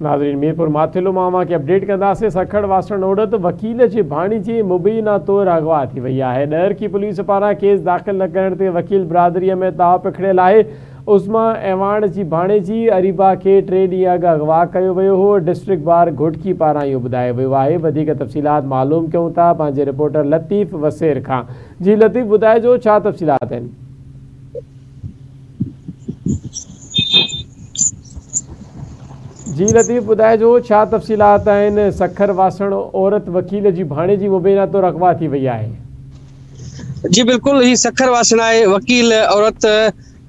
ناظرين ميرپور ماٿيلو مان اوهان کي اپڊيٽ ڪنداسين سکر واسڻ عورت وڪيل جي ڀاڻيجي مبينا طور اغوا ٿي وئي آهي ڏهرڪي پوليس پاران ڪيس داخل نه ڪرڻ تي وڪيل برادري ۾ تاء پکڙيل آهي عظميٰ اعواڻ جي ڀاڻيجي اريبا کي ٽي ڏينهن اڳ اغوا ڪيو ويو هو ڊسٽرڪٽ بار گهوٽڪي پاران اهو ٻڌايو ويو آهي وڌيڪ تفصيلات معلوم ڪيون ٿا پنهنجي رپورٽر لطيف وسير کان جي لطيف ٻڌائجو ڇا تفصيلات آهن. جي لطيف ٻڌائجو ڇا تفصيلات آهن سکر واسڻ عورت وڪيل جي ڀاڻيجي مبينا طور اغوا ٿي وئي آهي. جي بلڪل هي سکر واسڻ آهي وڪيل عورت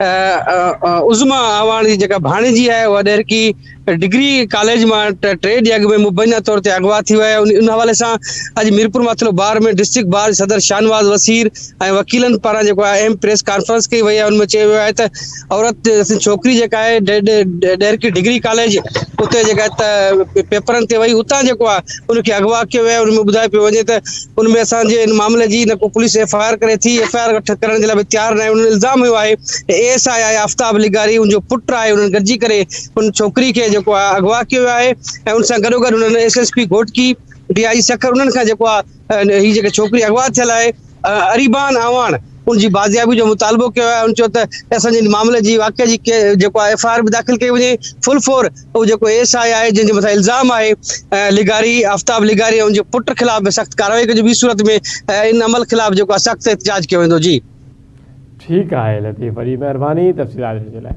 عظميٰ اعواڻ جي جيڪا ڀاڻيجي آهي اها ڏهرڪي ڊگري ڪاليج مان ٽي ڏينهن اڳ ۾ مبينا طور تي اغوا ٿي ويا آهن ان حوالي سان اڄ Mirpur Mathelo bar ۾ district bar جي صدر شاهنواز وسير ۽ وڪيلن پاران جيڪو آهي اهم پريس ڪانفرنس ڪئي وئي آهي ان ۾ چيو ويو آهي ته عورت ڇوڪري جيڪا آهي ڊيرڪي ڊگري ڪاليج اتي جيڪا پيپرن تي وئي اتان جيڪو آهي ان کي اغوا ڪيو ويو آهي ان ۾ ٻڌايو پيو وڃي ته ان ۾ اسان جي ان معاملي جي نه ڪو پوليس ايف آء آر ڪري ٿي ايف آء آر ڪرڻ جي لاء به تيار نه آهي ان الزام هيو آهي ته اي ايس آء آهي آفتاب لغاري ان جو پٽ آهي انهن گڏجي ڪري ان ڇوڪري کي جيڪو آهي اغوا ڪيو ويو آهي ۽ ان سان گڏوگڏ انهن S S P Ghotki, D I G Sukkur انهن کان جيڪو آهي هي جيڪا ڇوڪري اغوا ٿيل آهي اريبان اعواڻ ان جي بازيابي جو مطالبو ڪيو آهي ان چيو ته اسان جي معاملي جي واقعي جي جيڪو آهي ايف آء آر به داخل ڪئي وڃي فل فور هو جيڪو ايس آء آهي جنهن جي مٿان الزام آهي لغاري آفتاب لغاري ۽ ان جي پٽ خلاف به سخت ڪارروائي ڪجي ٻي صورت ۾ ان عمل خلاف جيڪو آهي سخت احتجاج ڪيو ويندو جي ٺيڪ آهي لطيف وڏي مهرباني تفصيلات ڏيڻ جي لاء.